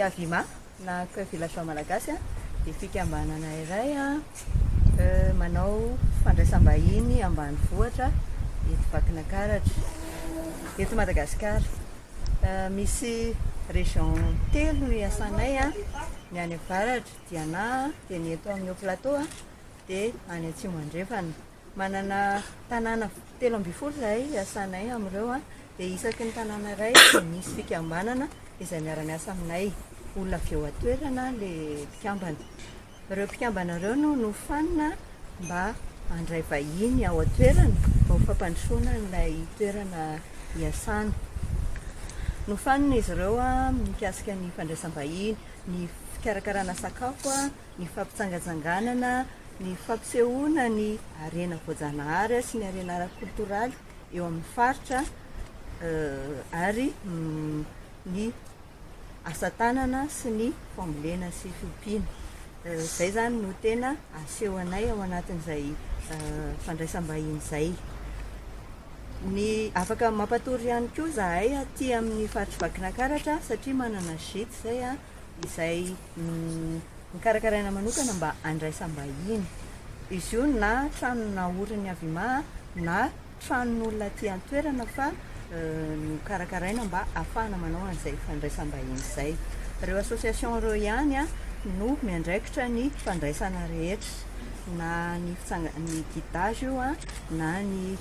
Avima na Coeur Villageois Malagasy dia fikambanana iray manao fandraisam-bahiny ambanivohitra eto Vakinakaratra, eto Madagasikara. Misy région telo no iasanay, ny any avaratra, Diana, dia ny eto amin'ny Haut Plateau. dia any Atsimo Andrefana. Manana tanàna telo ambin'ny folo izahay hiasanay amin'ireo dia isaky ny tanàna iray dia misy fikambanana izay miara-miasa aminay. Olona avy eo an-toerana ilay mpikambana. Ireo mpikambana ireo no nofanina mba handray vahiny ao an-toerana mba ho fampandrosoana an'ilay toerana hiasana. Nofanina izy ireo mikasika ny fandraisam-bahiny, ny fikarakarana sakafo, ny fampitsangatsanganana, ny fampisehoana ny harena voajanahary sy ny harena ara-koltoraly eo amin'ny faritra ary ny asa tanana sy ny fambolena sy fiompiana. Izay izany no tena asehonay ao anatin'izay fandraisam-bahiny izay. Ny afaka mampatory ihany koa izahay aty amin'ny faritry Vakinankaratra satria manana gîte izay izay nokarakaraina manokana mba handraisam-bahiny. Izy io na trano naorin'ny Avima na tranon'olona aty an-toerana fa nokarakaraina mba hahafahana manao an'izay fandraisam-bahiny izay. Ireo association ireo ihany no miandraikitra ny fandraisana rehetra na ny ny guidage io na ny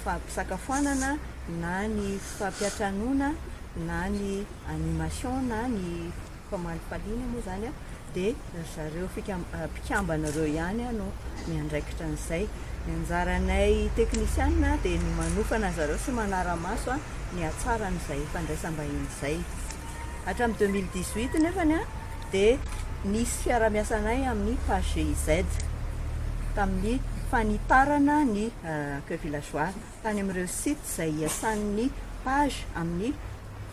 fampisakafoanana na ny fampiantranoana na ny animation na ny Commande Palina moa izany dia ry zareo mpikambana ireo ihany no miandraikitra an'izay. Ny anjaranay teknisianina dia ny manofana an-dry zareo sy manara-maso ny hatsaran'izay fandraisam-bahiny izay. Hatramin'ny 2018 nefany dia nisy fiaraha-miasanay amin'ny Page GIZ tamin'ny fanitarana ny Accueil Villageois. tany amin'ireo site izay hiasan'ny page amin'ny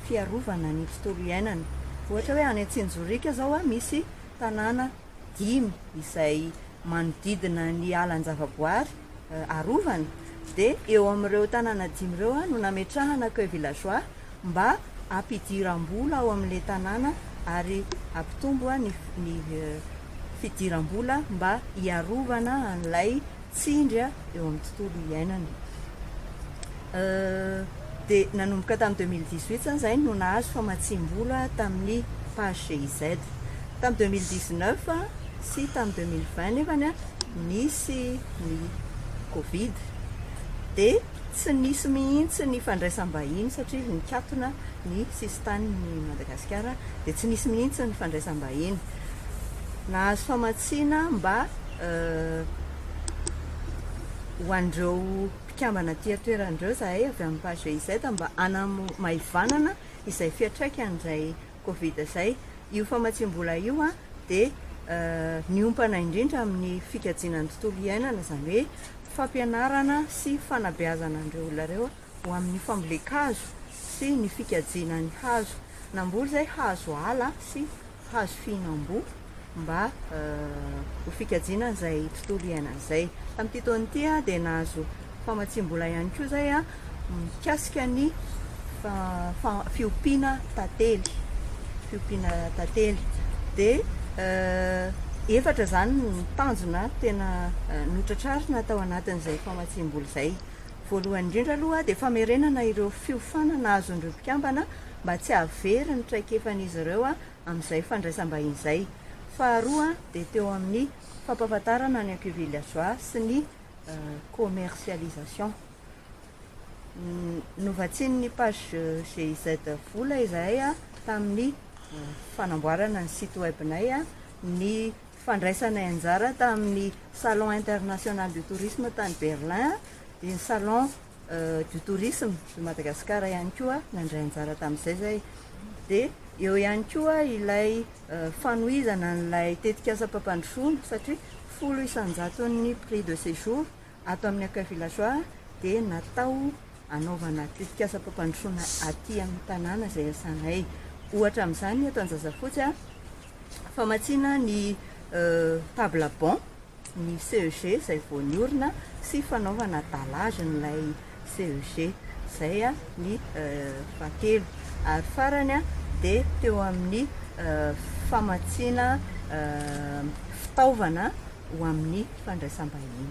fiarovana ny tontolo iainana. Ohatra hoe any Antsinjorika izao misy tanàna dimy izay manodidina ny alan-javaboary arovana dia eo amin'ireo tanàna dimy ireo no nametrahana accueil villageois mba hampidiram-bola ao amin'ilay tanàna ary hampitombo ny fidiram-bola mba hiarovana an'ilay tsindry eo amin'ny tontolo iainana. Dia nanomboka tamin'ny 2018 izany izay no nahazo famatsiam-bola tamin'ny page GIZ. Tamin'ny 2019 sy tamin'ny 2020 nefany nisy ny Covid dia Tsy nisy mihitsy ny fandraisam-bahiny satria nikatona ny sisin-tanin'i Madagasikara dia tsy nisy mihitsy ny fandraisam-bahiny nahazo famatsiana mba ho an'ireo mpikambana aty an-toerana ireo izahay avy amin'ny Page GIZ mba hanamaivanana izay fiantraikany izay Covid izay, io famatsiam-bola io dia miompana indrindra amin'ny fikajiana ny tontolo iainana, izany hoe fampianarana sy fanabeazana an'ireo olona ireo ho amin'ny fambolen-kazo sy ny fikajiana ny hazo. Namboly izay hazo ala sy hazo fihinam-boa. mba ho fikajiana izay tontolo iainana izay. Tamin'ity taona ity dia nahazo famatsiam-bola ihany koa izay mikasika ny fiompiana tantely, fiompiana tantely. Dia euh, efatra izany ny tanjona tena euh, notratrarina tao anatin'izay famatsiam-bola izay. Voalohany indrindra aloha dia famerenana ireo fiofanana azon'ireo mpikambana mba tsy havery ny traikefan'izy ireo amin'izay fandraisam-bahiny izay. Faharoa dia teo amin'ny fampahafantarana ny acquis villageois sy ny commercialisation. Novatsian'ny page GIZ vola izahay tamin'ny fanamboarana ny site web-nay, ny fandraisanay anjara tamin'ny Salon international du tourisme tany Berlin, dia ny Salon du tourisme de Madagascar ihany koa nandray anjara tamin'izay zay dia eo ihany koa ilay fanohizana an'ilay tetikasam-pampandrosoana satria folo isan-jaton'ny prix de séjour ato amin'ny accueil villageois dia natao anaovana tetikasam-pampandrosoana aty amin'ny tanàna izay iasanay ohatra amin'izany eto Anjazafotsy famatsiana ny table banc ny CEG izay vao niorina sy fanaovana dallage n'ilay CEG. Izay ny fahatelo. Ary farany dia teo amin'ny famatsiana fitaovana ho amin'ny fandraisam-bahiny.